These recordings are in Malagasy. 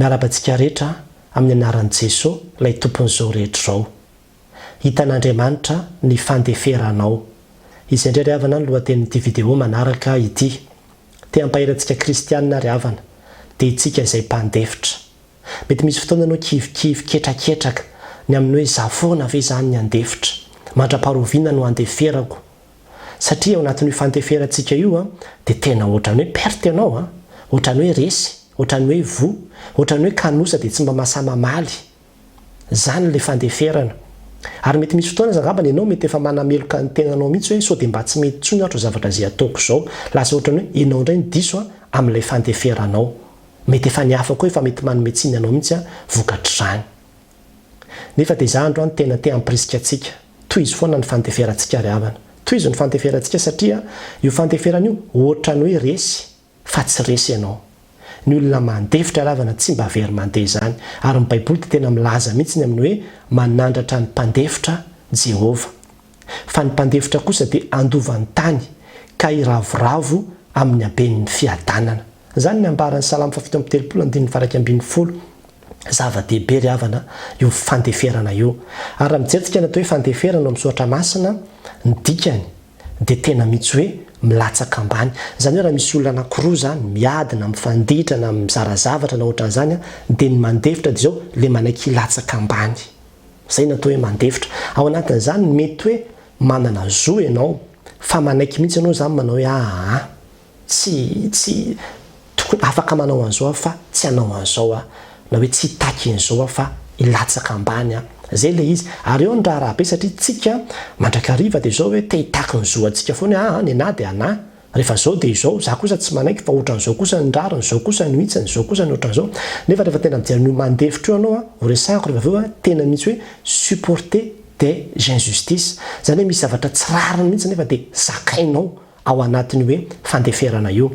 Miarahaba antsika rehetra amin'ny anaran'i Jeso ilay Tompon'izao rehetra izao. Hitan'Andriamanitra ny fandeferanao. Izay indray ry havana ny lohatenin'ity video manaraka ity. Te hampahery antsika kristianina ry havana, dia itsika izay mpandefitra. Mety misy fotoana ianao kivikivy ketraketraka ny amin'ny hoe za foana ve izany ny handefitra? Mandra-paharoviana no handeferako? satria ao anatin'io fanteferantsika io dia tena ohatran'ny hoe perte ianao a, ohatran'ny hoe resy, ohatran'ny hoe voa, ohatran'ny hoe kanosa dia tsy mba mahasahy mamaly. Izany ilay fandeferana. Ary mety misy fotoana aza angambany ianao mety efa manameloka ny tenanao mihitsy hoe sao dia mba tsy mety intsony ato zavatra izay ataoko izao. Lasa ohatran'ny hoe ianao indray no diso a, amin'ilay fandeferanao. Mety efa ny hafa koa efa mety manome tsiny anao mihitsy a, vokatr'izany. Nefa dia izaho androany no tena te hampirisika antsika. Tohizo foana ny fandeferantsika ry havana. Tohizo ny fandeferantsika satria io fandeferana io ohatrany hoe resy fa tsy resy ianao. Ny olona mandefitra ry havana tsy mba very mandeha izany. Ary ny Baiboly dia tena milaza mihitsy ny amin'ny hoe manandratra ny mpandefitra Jehovah. fa ny mpandefitra kosa dia handova ny tany ka hiravoravo amin'ny haben'ny fiadanana. Izany ny ambaran'ny Salamo fahafito amby telopolo andininy faha iraika ambin'ny folo. Zava-dehibe ry havana io fandeferana io. Ary raha mijery tsika ny atao hoe fandeferana ao amin'ny soratra masina, ny dikany dia tena mitsy hoe milatsaka ambany. Izany hoe raha misy olona anakiroa izany miady na mifanditra na mizara zavatra na ohatran'izany dia ny mandefitra dia izao ilay manaiky hilatsaka ambany. Izay no atao hoe mandefitra. Ao anatin'izany, mety hoe manana zo ianao, fa manaiky mihitsy ianao izany manao hoe aa, tsy, tsy, tokony, afaka manao an'izao aho fa tsy hanao an'izao aho, na hoe tsy hitaky an'izao aho fa hilatsaka ambany aho. Izay ilay izy. Ary eo ny raharaha be satria tsika mandrakariva dia izao hoe te hitaky ny zo antsika foana hoe aa, ny anah dia anah, Rehefa izao dia izao, za kosa tsy manaiky fa otran'izao kosa ny rariny, zao kosa no hitsiny, zao kosa ny otran'izao. Nefa rehefa tena mijery an'io mandefitra io anao a, ho resahiko rehefa avy eo a, tena mihitsy hoe supporter des injustices. Zany hoe misy zavatra tsy rariny mihitsy nefa dia zakainao ao anatin'io hoe fandeferana io.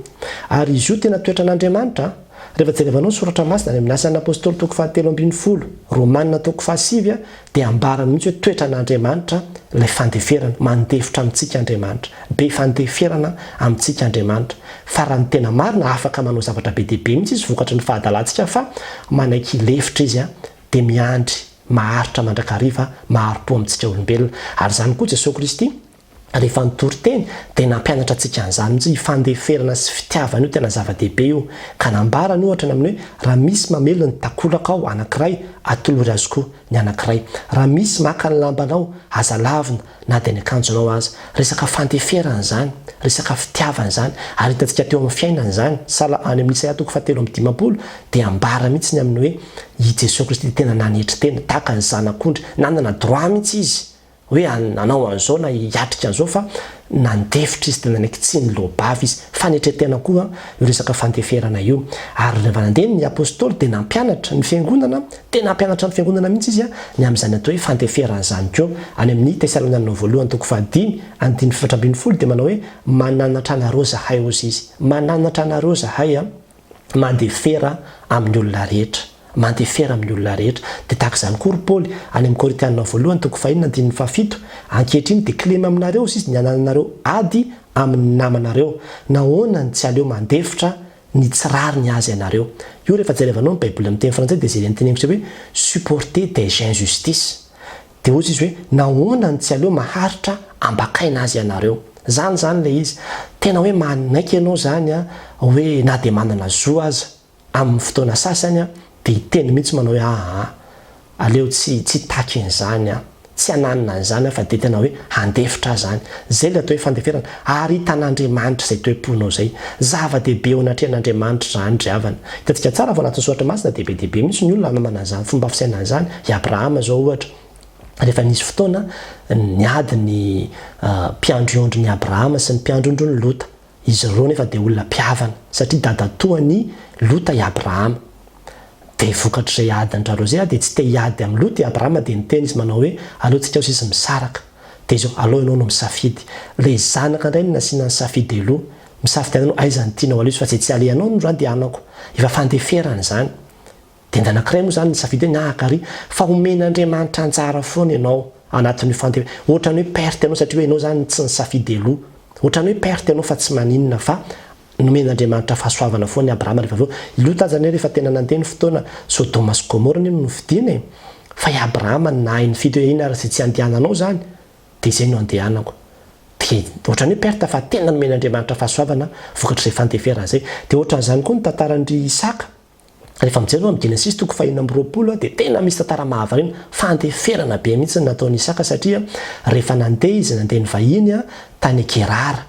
Ary izy io tena toetran'Andriamanitra a. Rehefa jerevanao ny soratra masina any amin'ny Asan'ny Apostoly toko fahatelo ambin'ny folo, Romana toko fahasivy a, Dia ambarany mihitsy hoe toetran'Andriamanitra ilay fandeferana, mandefitra amintsika Andriamanitra, be fandeferana amintsika Andriamanitra, fa raha ny tena marina afaka manao zavatra be dia be mihitsy Izy vokatry ny fahadalantsika fa manaiky hilefitra Izy dia miandry maharitra mandrakariva maharopo amintsika olombelona, ary izany koa Jesoa Kristy Rehefa nitory teny dia nampianatra antsika an'izany mihitsy io fandeferana sy fitiavana io, tena zava-dehibe io. Ka nambarany ohatra ny amin'ny hoe, raha misy mamely ny takolaka ao anankiray, atolory azy koa ny anankiray. Raha misy maka ny lambanao, aza lavina na dia ny akanjonao aza. Resaka fandeferana izany, resaka fitiavana izany, ary hitantsika teo amin'ny fiainana izany. Sal any amin'ny Isaia toko fahatelo amby dimampolo dia ambara mihitsy ny amin'ny hoe i Jesoa Kristy dia tena nanetry tena, tahaka ny zanak'ondry, nanana droit mihitsy izy. hoe hanao an'izao na hiatrika an'izao fa nandefitra izy dia nanaiky tsy niloa-bava izy. Fanetren-tena koa io resaka fandeferana io. Ary rehefa nandeha ny apostoly dia nampianatra ny fiangonana, tena hampianatra ny fiangonana mihitsy izy ny amin'izany atao hoe fandeferana izany koa. Any amin'ny Tesalonianina Voalohany toko fahadimy andininy efatra ambin'ny folo dia manao hoe mananatra anareo izahay hozy izy. Mananatra anareo izahay. mandefera amin'ny olona rehetra, mandefera amin'ny olona rehetra. Dia tahaka izany koa ry Paoly, any amin'ny Korintianina Voalohany toko fahiny andininy fahafito, Ankehitriny dia kilema aminareo izy ny hanananareo ady amin'ny namanareo. Nahoana ny tsy aleo mandefitra ny tsy rariny azy ianareo? Io rehefa jerevanao ny Baiboly amin'ny teny frantsay dia izay entin'ny miseho hoe supporter des injustices. Dia hoy izy hoe, Nahoana no tsy aleo maharitra ambakaina azy ianareo? Izany izany ilay izy. Tena hoe manaiky ianao izany hoe na dia manana zo aza, amin'ny fotoana sasany, dia hiteny mihitsy manao hoe, Aa, aleo tsy tsy hitaky an'izany aho. Tsy hananina an'izany aho fa dia tena hoe handefitra ahy izany. Izay ilay atao hoe fandeferana. Ary hitan'Andriamanitra izay toe-ponao izay. Zava-dehibe eo anatrehan'Andriamanitra izany ry havana. Hitantsika tsara fa ao anatin'ny soratra masina dia be dia be mihitsy ny olona nanana izany fomba fisainana izany. I Abrahama izao ohatra, rehefa nisy fotoana niady ny mpiandriondrin'i Abrahama sy ny mpiandrondron'i Lota. Izy ireo nefa dia olona mpihavana, satria dadatoan'i Lota i Abrahama. Dia vokatr'izay adin-dry zareo izay dia tsy te hiady amin'i Lota i Abrahama dia niteny izy manao hoe, Aleontsika ho sisa misaraka. Dia izao, aleo ianao no misafidy. Ilay zanaka indray no nasiana ny safidy aloha. Misafidiana ianao, aiza no tianao aleso fa izay tsy alehanao no zany dia hanako. Efa fandeferana izany. Dia ny anankiray moa izany nisafidy hoe na haka àry fa omen'Andriamanitra anjara foana ianao anatin'io fandef. Ohatran'ny hoe perte ianao satria hoe ianao izany no tsy nisafidy aloha. Ohatran'ny hoe perte ianao fa tsy maninona fa Nomen'Andriamanitra fahasoavana foana i Abrahama rehefa avy eo. I Lota aza anie rehefa tena nandeha ny fotoana, Sodoma sy Gomora anie no nofidina e! Fa i Abrahama nahay nifidy hoe iny ary izay tsy handehananao izany dia izay no handehanako. Dia ohatran'ny hoe perte fa tena nomen'Andriamanitra fahasoavana vokatr'izay fandeferana izay. Dia ohatran'izany koa ny tantaran'ry Isaka. Rehefa mijery aloha ny Genesisy toko fahenina amby roapolo dia tena misy tantara mahavariana, fandeferana be mihitsy ny nataon'i Isaka satria rehefa nandeha izy nandeha nivahiny tany Gerara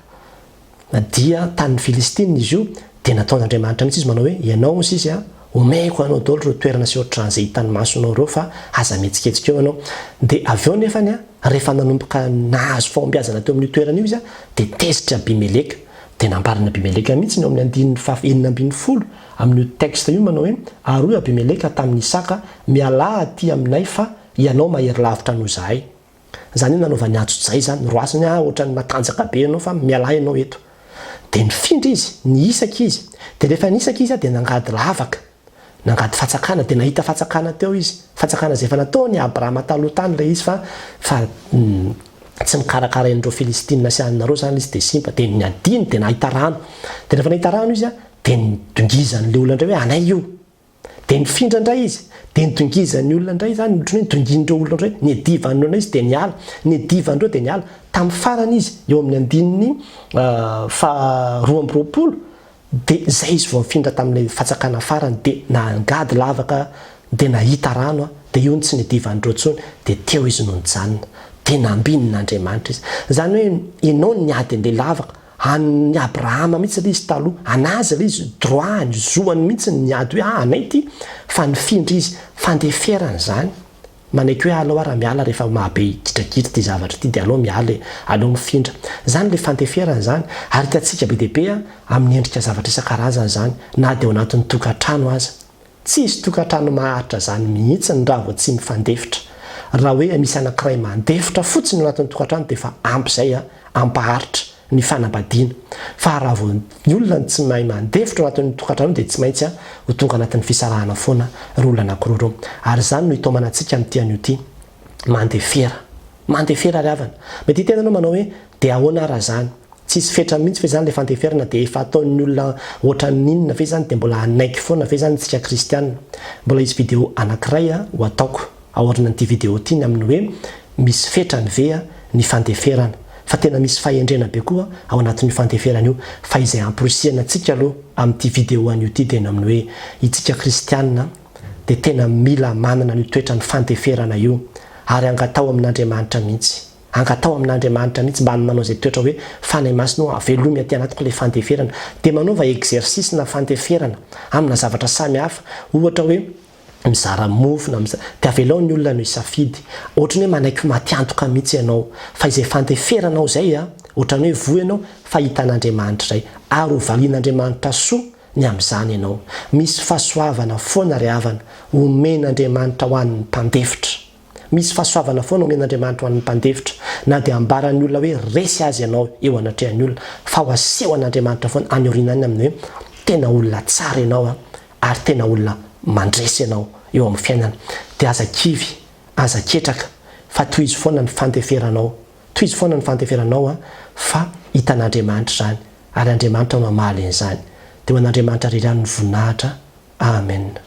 dia tanin'ny Filistina izy io dia nataon'Andriamanitra mihitsy izy manao hoe ianao hoy izy omeko anao daholo ireo toerana sy ohatran'izay hitan'ny masonao ireo fa aza mihetsiketsika eo ianao dia avy eo nefany rehefa nanomboka nahazo fahombiazana teo amin'io toerana io izy dia tezitr'i Abimeleka Dia nambaran' Abimeleka mihitsy ny ao amin' ny andininy fah enina ambin'ny folo amin' io teksta io manao hoe, Ary hoy Abimeleka tamin' i Isaka, Mialà atỳ aminay fa hianao mahery lavitra noho izahay. Izany hoe nanaovany ajojay izany, Roasiny aho hoatra ny matanjaka be ianao fa mialà ianao eto. Dia nifindra izy, nihisaka izy. Dia rehefa nihisaka izy dia nangady lavaka. Nangady fatsakana dia nahita fatsakana teo izy. Fatsakana izay efa nataon' i Abrama taloha tany ilay izy fa fa tsy mikarakara an'ireo Filistina sy anareo izany ilay izy dia simba. Dia niadiany dia nahita rano. Dia rehefa nahita rano izy dia nidongizan'ilay olona indray hoe anay io. Dia nifindra indray izy. Dia nidongizan'ny olona indray izany, ohatran'ny hoe nidongin'ireo olona indray. Niadivan'ny olona izy dia niala. Niadivan'ireo dia niala. Tamin'ny farany izy, eo amin'ny andininy faha roa amby roapolo, Dia izay izy vao nifindra tamin'ilay fatsakana farany dia nangady lavaka dia nahita rano dia io no tsy nedivan'ireo intsony dia teo izy no nijanona dia nambinin' Andriamanitra izy. Izany hoe ianao niady handeha lavaka, an'ny Abrahama mihitsy ilay izy taloha, an'azy ilay izy, droit-ny, zoany mihitsy ny niady hoe ah anay ity, fa nifindra izy, fandeferana izany. Manaiky hoe alao ara miala rehefa mahabe gidragidra ty zavatra ity dia alao miala e, alao mifindra. Zany le fanteferana zany ary hitantsika be dia be a, amin'ny endrika zavatra isan-karazany zany na dia ao anatin'ny tokantrano aza. Tsy hisy tokantrano maharitra zany mihitsiny raha vao tsy mifandefitra. Raha hoe misy anankiray mandefitra fotsiny ao anatin'ny tokantrano dia efa ampy zay a, ampaharitra. ny fanambadiana. Fa raha vao ny olona no tsy mahay mandefitra ao anatin'ny tokantrano dia tsy maintsy ho tonga anatin'ny fisarahana foana ireo olona anankiroa ireo. Ary izany no hitaomana antsika amin'ity anio ity. Mandefera. Mandefera ry havana. Mety hiteny ianao manao hoe, dia ahoana ary raha izany? Tsy hisy fetra mihitsy ve izany ilay fandeferana dia efa ataon'ny olona ohatran'ny inona ve izany dia mbola hanaiky foana ve izany isika kristiana? Mbola hisy video anankiray ho ataoko. Aorinan'ity video ity ny amin'ny hoe misy fetrany ve ny fandeferana. Fa tena misy fahendrena be koa ao anatin'io fandeferana io. Fa izay hamporisihana antsika aloha amin'ity video anio ity dia ny amin'ny hoe itsika kristianina dia tena mila manana an'io toetran'ny fandeferana io ary angataho amin'Andriamanitra mihitsy. Angataho amin'Andriamanitra mihitsy mba manao izay toetra hoe Fanahy Masina hoe avelomy aty anatiko ilay fandeferana. Dia manaova exercice-na fandeferana amina zavatra samihafa. Ohatra hoe mizara mofo na miza de avelao ny olona no hisafidy, ohatran'ny hoe manaiky ho matiantoka mihitsy ianao, fa izay fandeferanao izay a, ohatran'ny hoe voa ianao fa hitan'Andriamanitra izay, ary ho valian'Andriamanitra soa ny amin'izany ianao, misy fahasoavana foana ry havana omen'Andriamanitra ho an'ny mpandefitra. Misy fahasoavana foana omen'Andriamanitra ho an'ny mpandefitra, na dia ambaran'ny olona hoe resy azy ianao eo anatrehan'ny olona, fa ho asehon'Andriamanitra foana any aoriana any amin'ny hoe tena olona tsara ianao ary tena olona mandresy ianao eo amin'ny fiainana. Dia aza kivy, aza ketraka, fa tohizo foana ny fandeferanao. Tohizo foana ny fandeferanao, fa hitan'Andriamanitra izany, ary Andriamanitra no hamaly an'izany. Dia ho an'Andriamanitra irery ihany ny voninahitra. Amena.